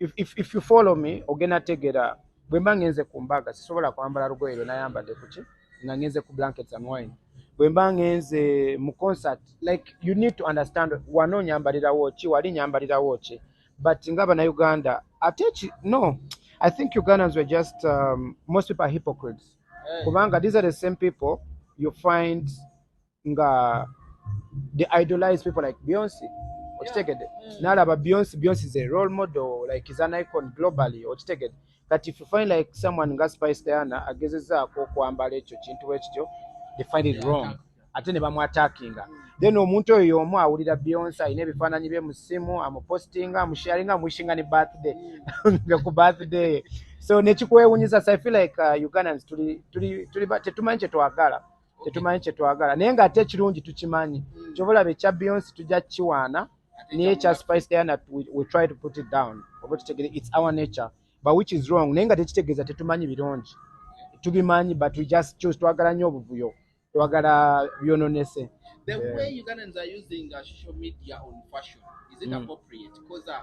if, if, if you follow me ogenda tegera bwemba ngenze ku mbaga sisobola kwambala lugoye lwe nayambadde kuki nga ngenze ku blankets and wine bwemba ngenze mu concert like you need to understand wano onyambalirawo ki wali nyambalirawo ki but nga banauganda ate no i think ugandans were just um, most people are hypocrites eh. kubanga these are the same people you find nga they idolize people like beyonce okitegede mm. nalaba beyonce beyonce is a role model like is an icon globally okitegede kati if you find like someone nga spice diana agezezaako okwambala ekyo kintu ekityo they find it wrong ate ne bamwatakinga mm. then omuntu oyo yomu awulira beyonce alina ebifaananyi bye musimu amupostinga amusharinga amuishinga ne birthday mm. nga ku birthday so nekikwewunyisa so i feel like uh, ugandans tuli, tuli, tuli, tetumanyi kyetwagala tetumanyi kyetwagala naye nga ate ekirungi tukimanyi hmm. kyobalaba ekya beyonce tujja kukiwaana naye ekya spice diana we try to put it down oba tutegere its our nature but which is wrong naye nga tekitegeeza tetumanyi birungi tubimanyi but we just choose twagala nnyo obuvuyo twagala byononese the way ugandans are using uh, social media on fashion is it mm. appropriate because uh,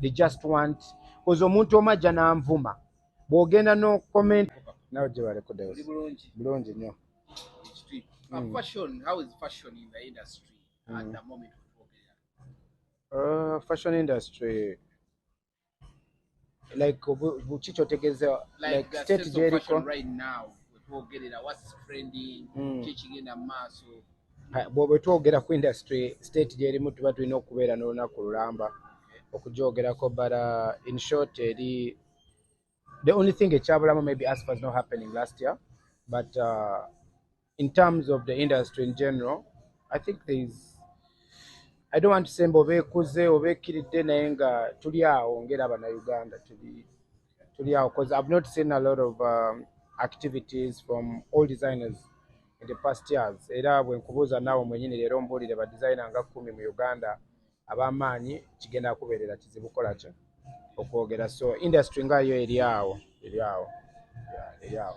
they just want koze omuntu omu ajja n'anvuma bw'ogenda no comment nawe gye baleko dayos bulungi nnyo hmm. uh, fashion industry like buki kyotegeeza like state gyeriko right now wetwogerera what's trending hmm. kyekigenda mu maaso bwoba twogera ku industry state gyerimu tuba tulina okubeera n'olunaku lulamba okugyogerako but uh, in short eri the only thing ekyabulamu maybe aspa is not happening last year but uh, in terms of the industry in general i think there is i don't want to say mba oba ekuze oba ekkiridde naye nga tuli awo ngaera banauganda tuli tuli awo because i've not seen a lot of um, activities from all designers in the past years era bwe nkubuuza naawe mwenyini leero mbuulire ba designer nga kumi mu uganda ab'amaanyi kigenda kubeerera kizibu kola ki okwogera so industry nga yo eri awo eri awo eri awo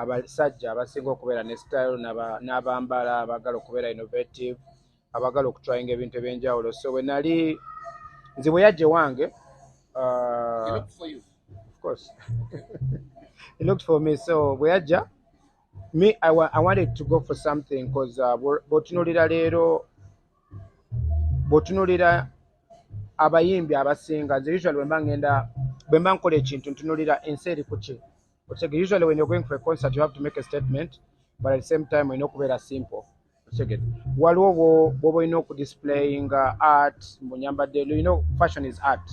abasajja abasinga okubeera ne style n'abambala abagala okubeera innovative abagala okutryinga ebintu ebyenjawulo so bwe nali nze bwe yajja ewange uh, bwe yajja me I, wa I wanted to go for something because uh, bwotunulira leero bwotunulira abayimbi abasinga nze usually bwemba ngenda bwemba nkola ekintu ntunulira ensi eri kuki okitegere usually when you're going for a concert you have to make a statement but at the same time olina okubeera simple okitegere waliwo bwoba olina okudisplayinga art mbunyambadde you know fashion is art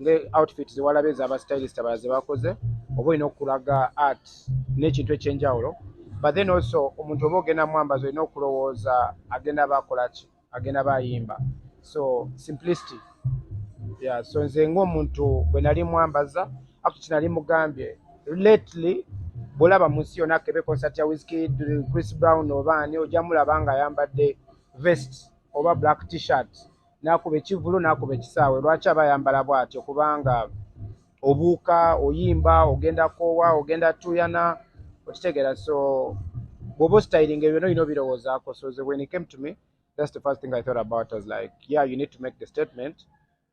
nga outfit zewalaba eza aba stylist abala zebakoze oba olina okulaga art n'ekintu ekyenjawulo but then also omuntu oba ogenda mwambazi olina okulowooza agenda aba akolaki agenda bayimba so simplicity yeah, so nze ngaomuntu bwe nali mwambaza afu kinali mugambye lately bwolaba mu nsi yona kebe concert ya wiskid chris brown obaani ojja mulaba nga ayambadde vest oba black t-shirt nakuba ekivulu nakuba ekisaawe lwaki aba ayambala bwatyo kubanga obuuka oyimba ogenda koowa ogenda tuyana okitegera so bwoba ositayiringa ebyo nolina obirowoozaako so the when it came to me that's the first thing i thought about was like yeah you need to make the statement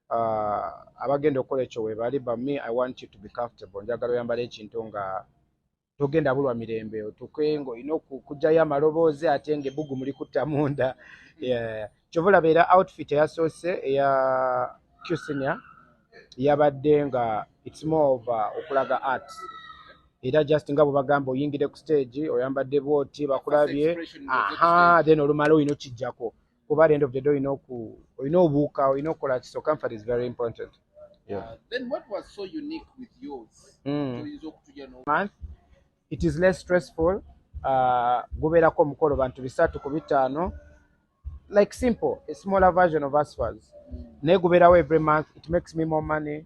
uh, abagenda okukola ekyo webali but me i want you to be comfortable njagala oyambala ekintu nga togenda bulwa mirembe otuke ng'olina okugyayo amaloboozi ate ng'ebbugu muli kutta munda kyova olaba era outfit eyasoose eya cusinia yabadde nga its more of uh, okulaga art era just nga bwebagamba oyingire ku stage oyambadde bwoti bakulabye aha then olumala olina okijjako kuba at the end of the day olina oku olina obuuka olina okukola ki so comfort is very important yeah. uh, then what was so unique with yours mm. oyinza okutulya no month it is less stressful uh, gubeerako omukolo bantu bisatu ku bitaano like simple a smaller version of asfas mm. naye gubeerawo every month it makes me more money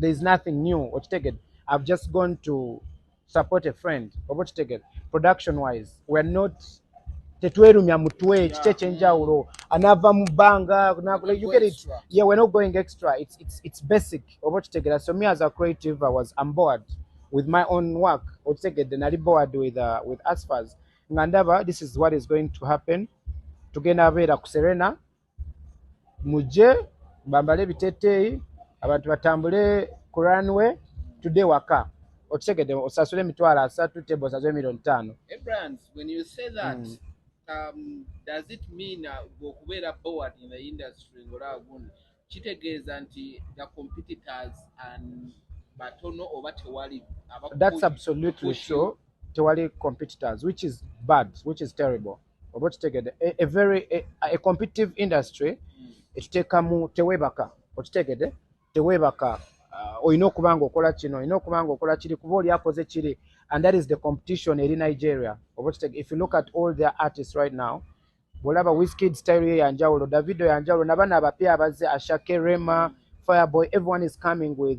there is nothing new okitegede i've just gone to support a friend oba okitegede production wise weare not tetwerumya mutwe kiki ekyenjawulo anava mu bbanga yeah we're not going extra it's, it's, it's basic oba okitegera so me as a creative i was am bored with my own work okitegedde nali bored with, uh, with asfas nga ndaba this is what is going to happen tugenda beera ku serena mujje bambale ebiteteeyi abantu batambule ku runway tudde waka okitegedde osasule emitwalo asatu tebo osasule emirioni ttaano kitegeeza nti the competitors and batono oba tewali that's absolutely so tewali competitors which is bad which is terrible oba okitegedde a very a competitive industry hmm. ekiteekamu teweebaka okitegedde teweebaka uh, olina okuba nga okola kino olina okuba nga okola kiri kuba oli akoze kiri and that is the competition eri nigeria oba okitegedde if you look at all their artists right now bwolaba wiskid style ye yanjawulo davido yanjawulo nabana abapya abazze ashake rema fireboy everyone is coming with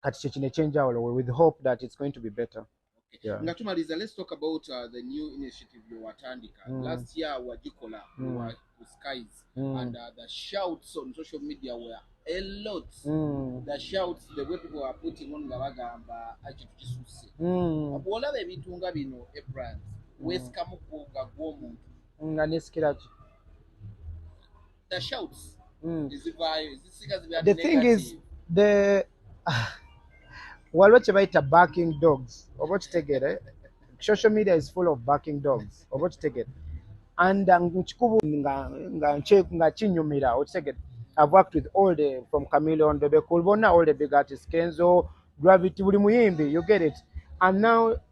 kati kye kino ekyenjawulo we with hope that it's going to be better nga tumaliza let's talk about uh, the new initiative yowatandika mm. last year wagikola mm. wa skies mm. and uh, the shouts on social media were a lot mm. the shouts the way people are putting on nga bagamba ekintu kisusse mm. bwolaba ebintu nga bino ebrand mm. wesikamu gwo nga gwomuntu nga nesikiraki the shouts mm. ezivaayo ezisiga ziba the thing is the waliwo kye bayita barking dogs oba okitegere social media is full of barking dogs oba okitegere and uh, nkikubu nga kinyumira okitegere i've worked with all the from cameleon bebe cool bona all the big artists kenzo gravity buli muyimbi you get it and now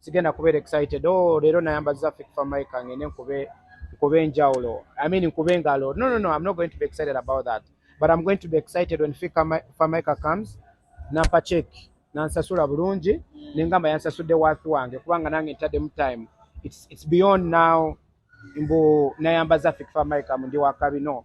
sigenda kubeera excited oh leero nayambaza fik for my kang ene nkube nkube njawulo i mean nkube ngalo no no no i'm not going to be excited about that but i'm going to be excited when fik for my kang comes nampa check nansasula bulungi nengamba yansasudde wathi wange kubanga nange ntaddemu time it's, it's beyond now mbu nayambaza fik for my kang ndi wakabi no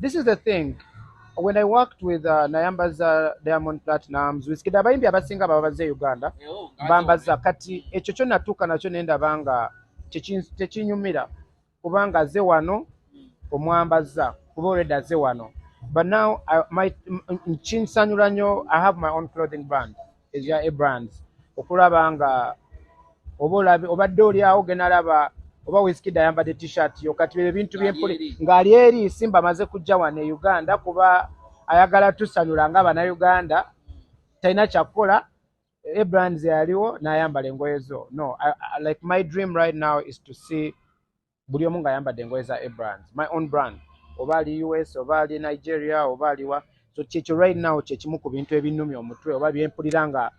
This is the thing. When I worked with uh, Nayambaza Diamond Platinums, Wizkid abayimbi abasinga baba baze Uganda. Eh, oh, Bambaza kati ekyo kyonna tuuka nakyo nenda banga tekinyumira kubanga aze wano omwambaza kuba already aze wano. But now I might nkinsanyula nnyo I have my own clothing brand. ekya Ebrands okulaba nga oba olabe obadde oli awo genda laba oba Wizkid ayambadde t-shirt yo kati bye bintu by'empuli ng'ali eri Simba amaze kujja wano e Uganda kuba ayagala tusanyula nga Bannayuganda talina kyakukola Ebrands yaliwo n'ayambala engoye zo no I, I, like my dream right now is to see buli omu nga ayambadde engoye za abrand my own brand oba ali us oba ali nigeria oba aliwa so kyekyo right now kyekimu ku bintu ebinumi omutwe oba byempulira nga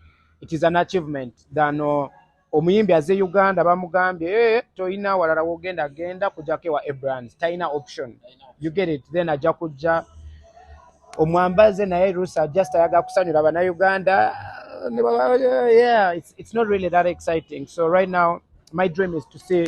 it is an achievement than uh, omuyimbi aze uganda bamugambye hey, eh, toyina walala wogenda genda kujako ewa abrand talina option you get it then ajja kujja omwambaze naye rusa just ayaga kusanyula bana uganda yeah, it's, it's not really that exciting so right now my dream is to see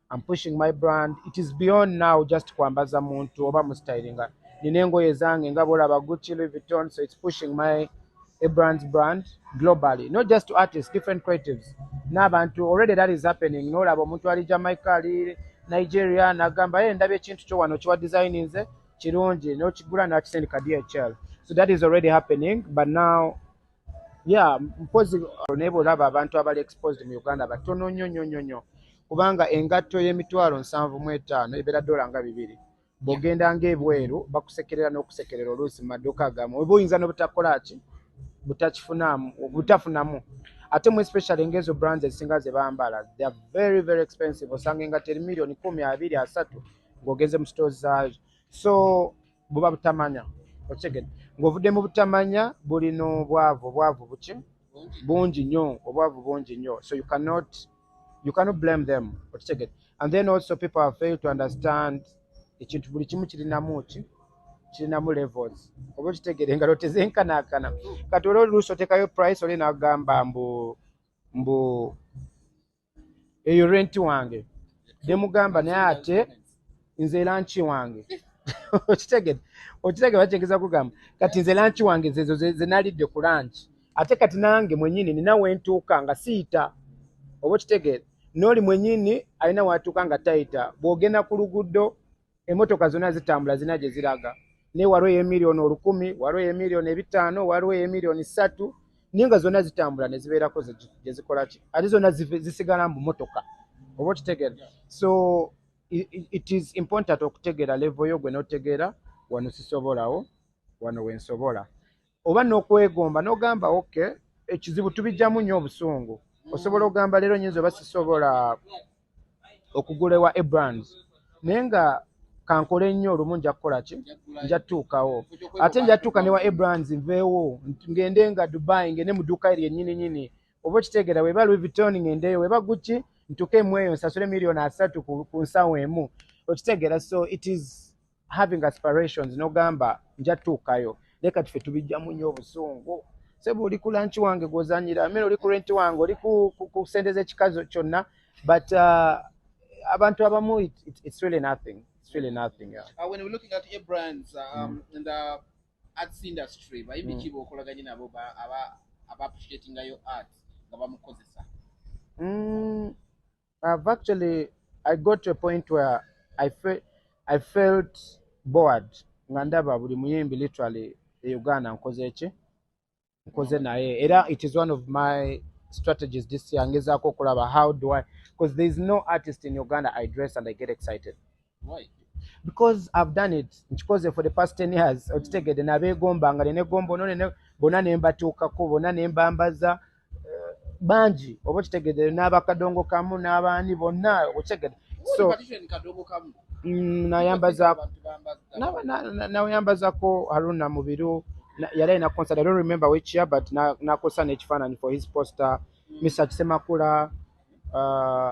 I'm pushing my brand. It is beyond now just kwambaza muntu oba mu styling. Nina engoye zange nga bolaba Gucci, Louis Vuitton, so it's pushing my a brand's brand globally, not just to artists, different creatives. N'abantu already that is happening. N'olaba omuntu ali Jamaica, ali Nigeria, n'agamba ye ndabye ekintu kyo wano kiwa design nze kirungi n'okigula n'akisindika DHL. So that is already happening, but now ya mpozi naye bwolaba abantu abali exposed mu uganda batono nnyo nnyo nnyo nnyo kubanga engatto y'emitwalo nsanvu mu etaano ebeera dola nga bibiri bw'ogenda ng'ebweru bakusekerera n'okusekerera oluusi mu maduuka agamu oba oyinza n'obutakola ki butakifunamu butafunamu ate mu especially ng'ezo brands ezisinga ze bambala they are very very expensive osanga engatto eri miliyoni kumi abiri asatu ng'ogenze mu stores zaazo so buba butamanya okitegede ng'ovudde mu butamanya buli n'obwavu obwavu buki bungi nnyo obwavu bungi nnyo so you cannot you cannot blame them okitegede and then also people have failed to understand ekintu buli kimu kirinamu ki kirinamu levels oba okitegede nga lotezenkanaakana kati olwo oluusi otekayo price oli nagamba mbu mbu eyo renti wange demugamba naye ate nze lanki wange okitegede okitegede bakyegeza kugamba kati nze lanki wange zezo zenalidde ku lanki ate kati nange mwenyini nina wentuuka nga siyita oba okitegede nooli mwenyini alina watuuka nga tayita bwogenda ku luguddo emotoka zona zitambula zina gye ziraga ne waliwo eyemiliyoni olukumi waliwo eyemiliyoni ebitaano waliwo eyemiliyoni ssatu naye nga zona zitambula ne zibeerako gye zikola ki ate zona zisigala mbu motoka oba okitegera so it is important okutegera levo yo gwe notegera wano sisobolawo wano wensobola oba nokwegomba nogamba ok ekizibu tubijamu nyo obusungu osobola ogamba leero nyinza oba sisobola okugulewa ebrands naye nga kankole nnyo olumu nja kukola ki nja tutuukawo ate nja tutuuka newa ebrands nveewo ngende nga dubai ngende mu duuka eryo enyini nyini oba okitegeera weba louis vuitton ngendeyo weba guki ntuke emweyo nsasule million asatu ku nsawo emu okitegeera so it is having aspirations nogamba nja tuukayo leka tufe tubijjamu nnyo obusungu sebo oli ku lanchi wange gwozanyira amene oli ku renti wange oli ku sente z'ekikazi kyonna but uh, abantu abamu it's really nothing it's really nothing yeah. uh, when we're looking at a brands uh, um, mm. and uh, arts industry bayimbi mm. kiba okolaganye nabo aba appreciatingayo art nga bamukozesa mm. I've actually I got to a point where I felt I felt bored nga ndaba buli muyimbi literally e Uganda nkoze ki nkoze naye era it is one of my strategies this year ngezaako okulaba how do I because there is no artist in Uganda I dress and I get excited Why? because i've done it nkikoze for the past ten years mm. okitegedde nabeegomba nga nenegomba ono nene bona nembatuukako bona nembambaza eh, bangi oba okitegedde n'abakadongo kamu n'abaani bonna okitegedde so mm, nayambazako nayambazako haruna mubiru yali alina concert i don't remember which year but nakosa n'ekifaananyi for his poster mm. mr kisemakula uh,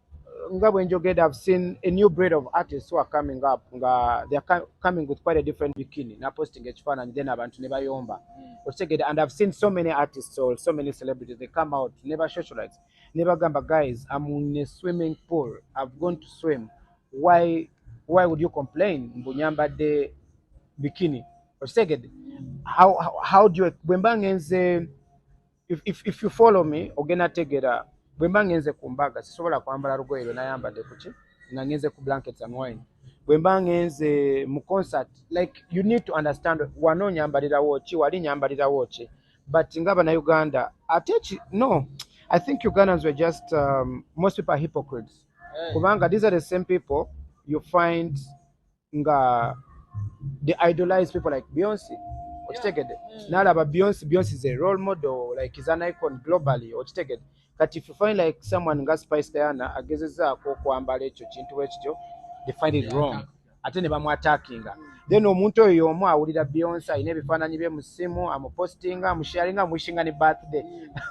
nga bwe njogedde i've seen a new breed of artists who are coming up nga they are coming with quite a different bikini na posting ekifaananyi then abantu ne bayomba hmm. okitegedde and i've seen so many artists or so many celebrities they come out ne ba socialites ne bagamba guys am in a swimming pool i've gone to swim why why would you complain mbu nyambadde bikini okitegedde how, how, how do you bwe mba ngenze if, if, if you follow me ogenda tegera bwemba ngenze ku mbaga sisobola kwambala lugoye lwe nayambadde kuki nga ngenze ku blankets and wine bwemba ngenze mu concert like you need to understand wano nyambalirawo ki wali nyambalirawo ki but nga banauganda ate ki no i think ugandans were just um, most people are hypocrites eh. kubanga these are the same people you find nga they idolize people like beyonce okitegede mm. nalaba beyonce beyonce is a role model like is an icon globally okitegede kati if you find like someone nga spice diana agezezaako okwambala ekyo kintu wekityo they find it wrong ate ne bamwatakinga mm. then omuntu oyo yomu awulira beyonce alina ebifaananyi bye musimu amupostinga amusharinga amuishinga ne birthday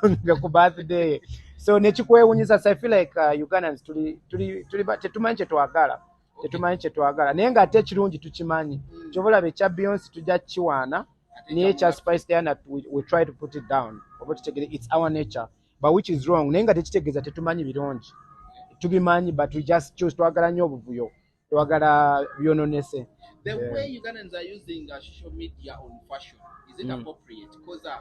mm. ku birthday so nekikwewunyisa so i feel like uh, ugandans tuli, tuli, tuli, tetumanyi kyetwagala tetumanyi kyetwagala naye nga ate ekirungi tukimanyi mm. kyobalaba ekya beyonce tujja kiwaana naye ekya spice diana we try to put it down oba tutegere its our nature but which is wrong naye nga tekitegeeza tetumanyi birungi tubimanyi but we just choose twagala nnyo obuvuyo twagala byononese the way ugandans are using uh, social media on fashion is it mm. appropriate because uh,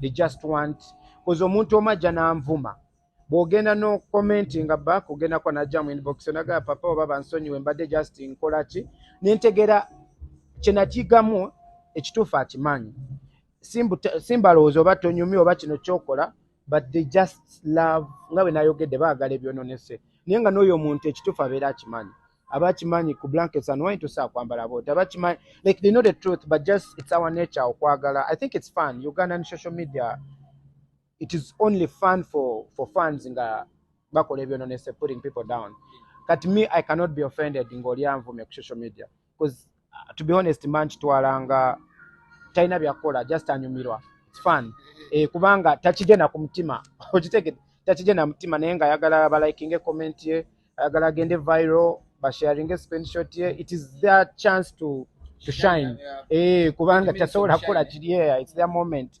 they just want koze omuntu omu ajja n'anvuma bw'ogenda n'okomentinga back ogenda kuba najja mu inbox onagaa papa oba bansonyiwe mbadde just nkola ki nentegera kyenakigamu ekituufu akimanyi simbalowooza oba tonyumi oba kino kyokola but they just love nga bwe nayogedde baagala ebyononese naye nga n'oyo omuntu ekituufu abeera akimanyi abakimanyi ku blankets and why to sa kwambala bo tabakimanyi like they know the truth but just it's our nature okwagala i think it's fun uganda and social media it is only fun for for fans nga bakola ebyo nonese putting people down kati me i cannot be offended ngoli anvume ku social media because Uh, to be honest man kitwala nga talina byakukola just anyumirwa its fun eh, kubanga takigenda ku mutima okitegede takigenda mutima naye nga ayagala balikinge comment ye ayagala agende viral basharinge screenshot ye it is their chance to, to shine eh, kubanga tasobola kukola kiri its their moment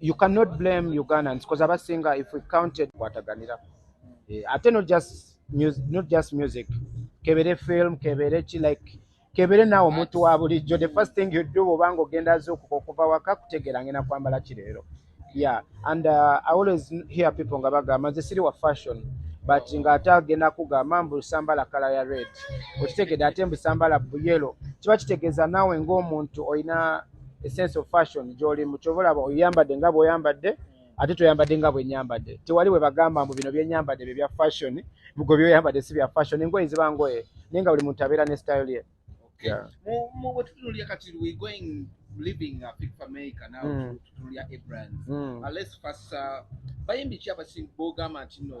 you cannot blame ugandans because abasinga if we counted kwataganira eh, ate not just music, not just music kebere film kebere ki like kebere naawe omuntu wa bulijjo the first thing you do obanga ogenda azuukuka okuva waka kutegeera ngenda kwambala ki leero yeah and uh, i always hear people nga bagamba nze siri wa fashion but nga ate agenda kugamba mbu sambala kala ya red okitegede ate mbu sambala buyelo kiba kitegeeza naawe ng'omuntu olina esense of fashion gyolimu kyova olaba oyambadde nga bweoyambadde ate toyambadde nga bwenyambadde tewali bwe bagamba mbu bino byenyambadde bye bya fashion bgo byoyambadde si bya fashion engoye ziba ngoye naye nga buli muntu abeera ne style ye bayimbi ki abasing bogamba nti no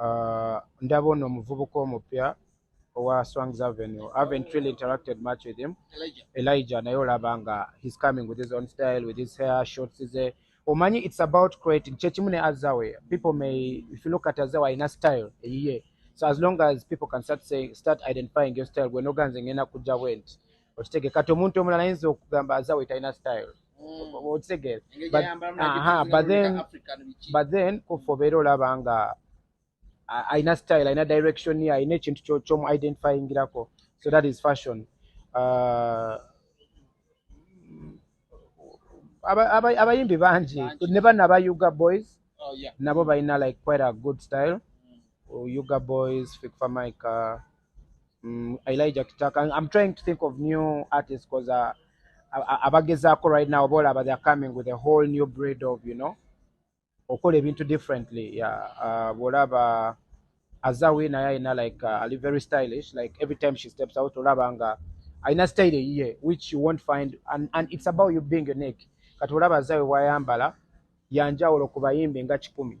Uh, ndaba ono omuvubuka omupya owa Swangz Avenue. I haven't really interacted much with him. Elijah, Elijah naye olaba nga he's coming with his own style, with his hair, shorts, his hair. Omanyi it's about creating. Kyekimu ne Azawe. People may, if you look at Azawe, alina style eyiye. So as long as people can start saying, start identifying your style, gwe noganze ngenda kujja bwenti. Okitege kati omuntu omulala ayinza okugamba Azawe talina style. okitegeera but then but then kuffe obeera olaba nga alina style alina direction ye alina ekintu kyomu identifyingirako so that is fashion uh, abayimbi bangi ne bana aba uga boys oh, nabo balina like quite a good style mm. uga boys fikfamaica Mm, Elijah Kitaka. I'm trying to think of new artists because uh, abagezaako right now bola but they're coming with a whole new breed of you know okola ebintu differently yeah uh, bwolaba azawi naye alina like uh, ali very stylish like every time she steps out olaba nga alina style eyiye which you won't find and, and it's about you being unique kati olaba azawi wayambala yanjawulo ku bayimbi nga kikumi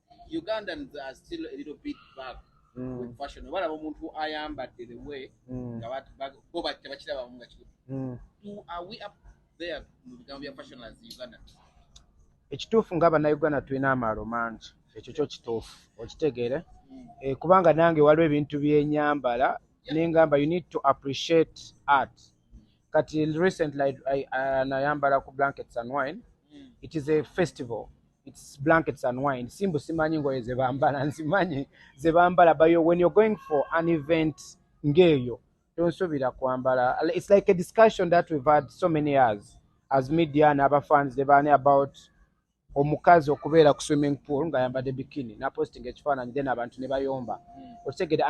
ugandans are still a little bit bag mm. with fashion oba laba omuntu ayambadde the way mm. nga bo tebakirabamu nga kiri mm. are we up there mu bigambo bya fashion as uganda ekituufu nga bannayuganda tulina amaalo mangi ekyo kyo kituufu okitegeere mm. eh, kubanga nange waliwo ebintu byenyambala nengamba you need to appreciate art kati recently uh, nayambala ku blankets and wine mm. it is a festival it's blankets and wine simbu simanyi ngoye zebambala nzimanyi zebambala but you, when you're going for an event ngeyo tonsubira kwambala it's like a discussion that we've had so many years as media and other fans they bani about omukazi okubeera ku swimming pool nga yambadde bikini na posting ekifaananyi then abantu ne bayomba mm. okitegede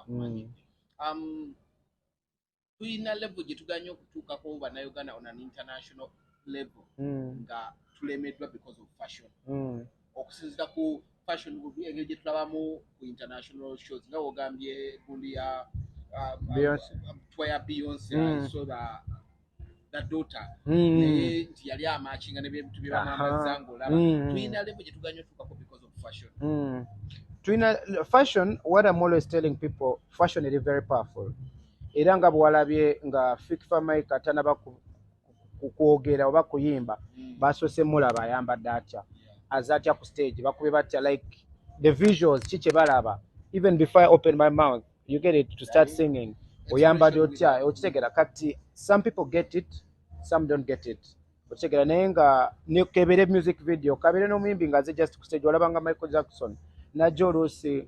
mm. um, tulina levo gye tuganye okutuukako bannayuganda on an international levo hmm. nga tulemeddwa because of fashion hmm. okusinzira ku fashion engeri gye tulabamu ku international shows nga wogambye gundi ya um, um, twa ya beyonce hmm. so the the daughter mm. naye nti yali amakinga ne bintu bye bamamaza ng'olaba mm. tulina levo gye tuganya otuukako because of fashion mm. tulina fashion what am always telling people fashion eri very powerful era nga bwewalabye nga fikifa mike atanaba kukwogera oba kuyimba mm. basoose mulaba ayambadde atya aze atya ku stage bakube batya like the visuals ki kye balaba even before i open my mouth you get it to start singing oyambadde otya okitegera kati some people get it some don't get it okitegera naye nga nekebere music video kabere n'omuyimbi nga aze just kustage olaba nga michael jackson najja oluusi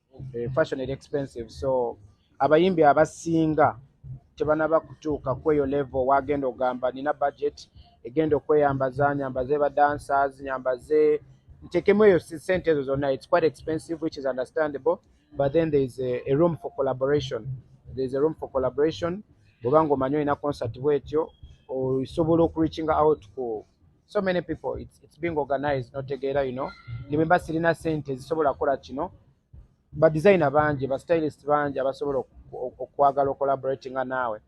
Eh, fashion eri expensive so abayimbi abasinga tebanaba kutuuka kweyo level wagenda ogamba nina budget egenda okweyambaza nyambaze ba dancers nyambaze ntekemu eyo sente ezo zonna it's quite expensive which is understandable but then there is a, a room for collaboration there is a room for collaboration bwobanga omanyi olina concert bwetyo osobola okureachinga out ku so many people it's, it's being organized notegeera you know nememba sirina sente zisobola kukola kino ba designer bangi ba stylist bangi abasobola okwagala ocollaborating nga naawe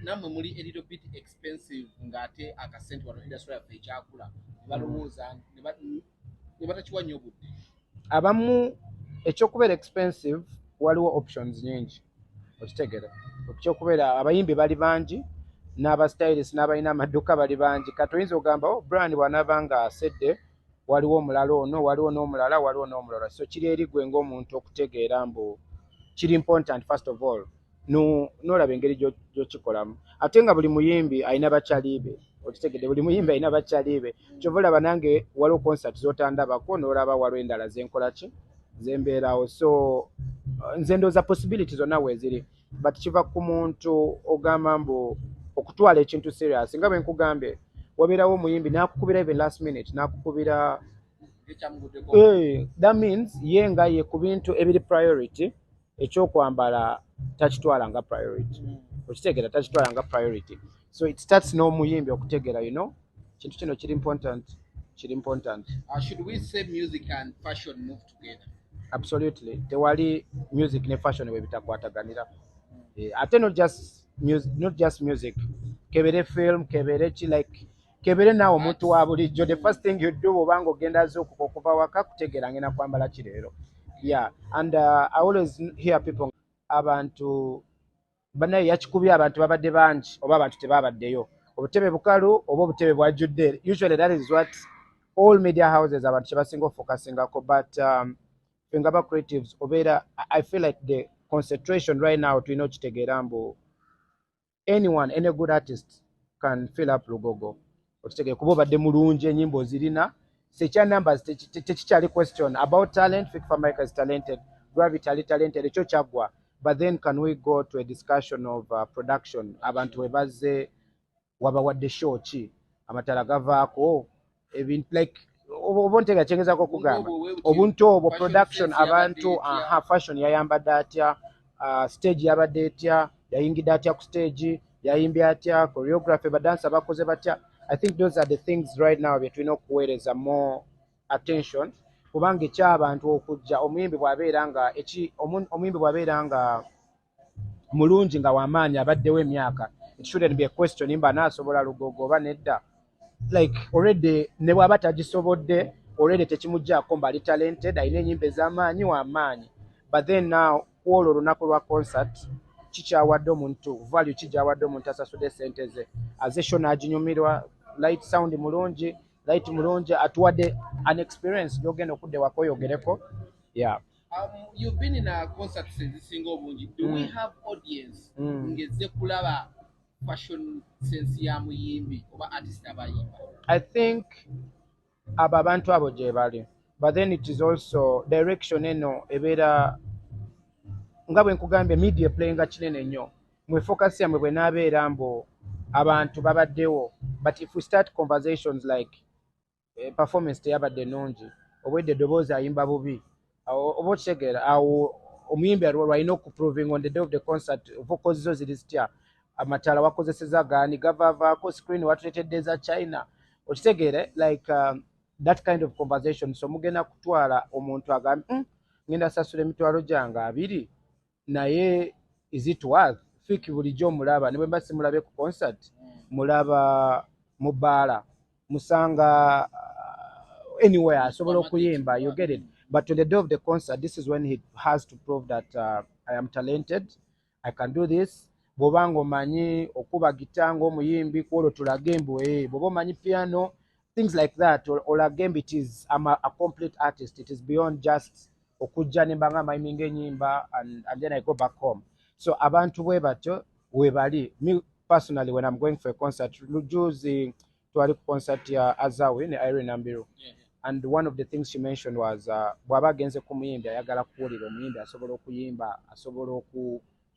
namwe muli a little bit expensive ng'ate akasente wano industry yaffe ekyakula balowooza ne batakiwa nnyo budde abamu ekyokubeera expensive waliwo options nyingi okitegere ekyokubeera abayimbi bali bangi n'abastylist n'abalina amadduka bali bangi kati oyinza ogamba o oh, bran bwanaaba nga asedde waliwo omulala ono waliwo n'omulala waliwo n'omulala so kiri eri gwe ng'omuntu okutegeera mbu kiri important first of all nolaba engeri gyokikolamu ate nga buli muyimbi alina bakyalibe okitegede buli muyimbi alina bakyalibe kyova olaba nange waliwo concert zotandabako nolaba waliwo endala zenkolaki zembeerawo so uh, nze ndooza possibility zonna weziri but kiva ku muntu ogamba mbu okutwala ekintu serious nga bwenkugambye wabeerawo omuyimbi nakukubira even last minute nakukubira eh, that means ye nga ye ku bintu ebiri priority ekyokwambala takitwala nga priority mm. okitegera takitwala nga priority so it starts n'omuyimbi okutegera you know kintu kino kiri important kiri important uh, should we say music and fashion move together absolutely tewali music ne fashion bwe bitakwataganira eh, ate not just music, not just music kebere film kebere ki like kebere naawe omuntu wa bulijjo the first thing you do obanga ogenda azuukuka okuva waka kutegeera ngenda kwambala ki leero ya and uh, i always hear people abantu banaye yakikubye abantu babadde bangi oba abantu tebabaddeyo obutebe bukalu oba obutebe bwajjudde usually that is what all media houses abantu kyebasinga ofokasingako but um, fenga ba creatives obeera i feel like the concentration right now tulina okitegeera mbu anyone any good artist can fill up lugogo okitegere kuba obadde mulungi enyimba ozirina sekya numbers tekikyali question about talent fik famaica is talented gravity ali talented ekyo kyaggwa but then can we go to a discussion of uh, production abantu webazze wabawadde show ki amatala gavaako ebintu like oba ntega kyengezako okugamba obuntu obwo production abantu aha fashion yayambadde atya uh, stage yabadde etya yayingidde atya ku stage yayimbye atya choreography badansa bakoze batya i think those are the things right now byetulina okuweereza more attention kubanga ekyabantu okujja omuyimbi bwabeera nga omuyimbi bwabeera nga mulungi nga wamaanyi abaddewo emyaka it shouldn't be a question mba naasobola lugogo oba nedda like already ne bwaba tagisobodde already tekimuggyako mbali talented alina enyimba ez'amaanyi wamaanyi but then now kwolwo olunaku lwa concert kikyawadde omuntu value kigyawadde omuntu asasude sente ze aze sho n'aginyumirwa light sound mulungi light mulungi atuwadde an experience gyogenda okudde wakoyogereko ya yeah. Um, you've been in a concert ezisinga obungi do mm. we have audience mm. ngezze kulaba fashion sense ya muyimbi oba artist abayimba i think abo abantu abo gyebali but then it is also direction eno ebeera nga bwe nkugambye media playinga kinene nnyo mwe focus yamwe bwenaabeera mbu abantu babaddewo but if we start conversations like eh, performance teyabadde nungi obwedde eddoboozi ayimba bubi oba okitegeera awo omuyimbi alina okuprovinga on the day of the concert vocals zo ziri zitya amataala wakozeseza gaani gavavaako screen watuletedde eza china okitegeere like um, that kind of conversation so mugenda kutwala omuntu agambe mm, ngenda sasula emitwalo gyange abiri naye is it worth fiki bulijjo mulaba ne bwemba simulabe ku concert mulaba mu baala musanga uh, anywhere asobola okuyimba you get it but to the day of the concert this is when he has to prove that uh, i am talented i can do this bwoba nga omanyi okuba gita ngaomuyimbi kwolwo tulage mbu e eh, bwoba omanyi piano things like that olage or, or it is I'm a, a complete artist it is beyond just okujja nemba nga maiminga enyimba and, and then I go back home so abantu bwe batyo webali me personally when I'm going for a concert lujuzi twali ku concert ya Azawi ne Irene Nambiru yeah, yeah. and one of the things she mentioned was uh, bwaba agenze ku muyimbi ayagala kuwulira omuyimbi asobola okuyimba asobola oku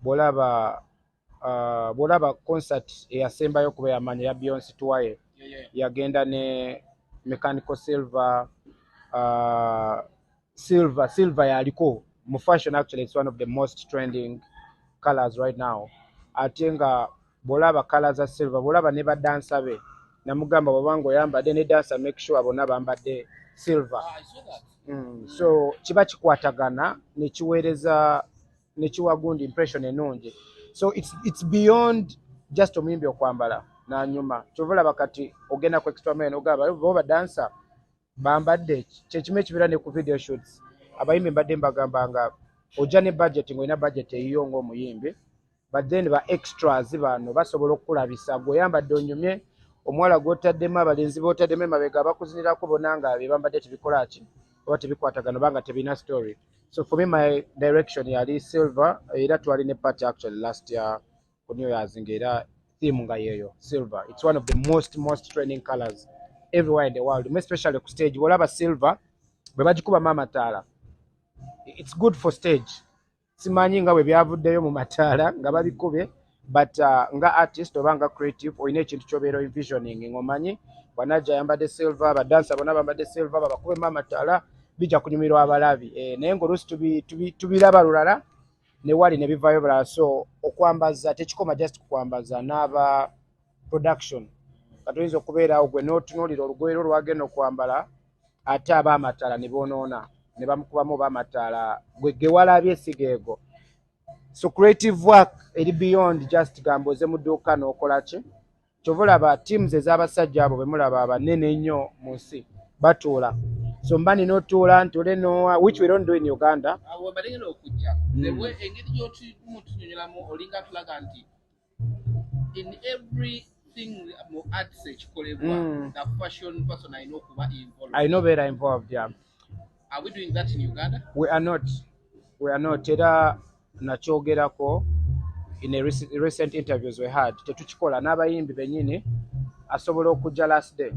bwolaba uh, bwolaba concert eyasembayo kuba yamanya ya beyonce twaye yeah, yeah. yagenda ne mechanical silver uh, silver silver yaliko mu fashion actually it's one of the most trending colors right now ate nga bwolaba kala za silver bwolaba ne badansa be namugamba bwabanga oyambadde ne dansa make sure bonna bambadde silver ah, mm, so kiba kikwatagana nekiweereza nekiwa gundi impression enungi so it's, it's beyond just omuyimbi okwambala nanyuma kyova olaba kati ogenda ku extra mile nogaba bo badansa bambadde kyekimu ekibeera ne ku video shoots abayimbi mbadde mbagamba nga ojja ne budget ngaolina budget eyiyo ngaomuyimbi but then ba extras bano basobola okukulabisa gweoyambadde onyumye omuwala gwotaddemu abalenzi botaddemu emabega abakuzinirako bona nga bebambadde tebikola ki oba tebikwatagana oba nga tebirina story So for me my direction yali silver era twali ne party actually last year ku New Year's ngera theme nga yeyo silver. It's one of the most most trending colors everywhere in the world, especially ku stage. Wolaba silver bwe bagikuba mama taala. It's good for stage. Simanyi nga bwe byavuddeyo mu mataala nga babikube but uh, nga artist oba nga creative olina ekintu kyobeera envisioning ngomanyi bwanajja ayambadde silver badansa bona bambadde silver babakuba emaama tala bijja kunyumirwa abalabi e, naye ngaoluusi tubiraba lulala newali nebivayo bulala so okwambaza tekikoma just kukwambaza n'aba production katoyinza okubeerawo gwe notunuulira olugoye lwo lwagenda okwambala ate aba amataala ne bonoona ne bamukubamu oba amataala gwe gewalabye sigeego so creative work eri beyond just gamba oze mu dduuka n'okola ki kyova olaba teams ez'abasajja abo bemulaba abanene ennyo mu nsi batuula so mba nina otuula ntule nowa which we don't do in uganda ah, mm. in every thing mu arts ekikolebwa mm. the fashion person alina okuba involved alina obeera involved yeah. are we doing that in uganda we are not we are not era nakyogerako in a recent interviews we had tetukikola n'abayimbi benyini asobola okujja last day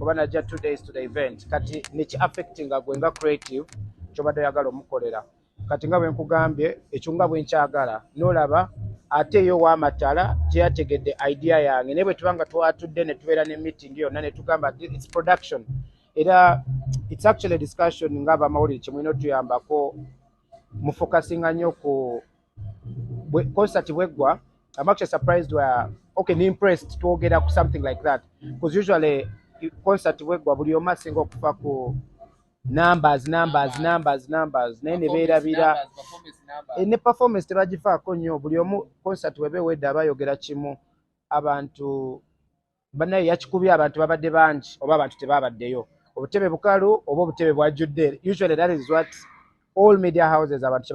oba najja two days to the event kati niki affectinga gwe nga creative kyobadde oyagala omukolera kati nga bwe nkugambye ekyo nga bwe nkyagala n'olaba ate yo w'amatala gyeyategedde idea yange naye bwe tuba nga twatudde ne tubeera ne meeting yonna ne tugamba its production era its actually discussion nga abamawulire kye mulina otuyambako mu focusinga nnyo ku concert bweggwa I'm actually surprised where okay ni impressed twogera ku something like that because usually concert bweggwa buli omu asinga okufa ku numbers numbers numbers numbers naye ne beerabira eh, ne performance tebagifaako nnyo buli omu concert weba ewedde aba ayogera kimu abantu banaye yakikubye abantu babadde bangi oba abantu tebabaddeyo obutebe bukalu oba obutebe bwajjudde usually that is what all media houses abantu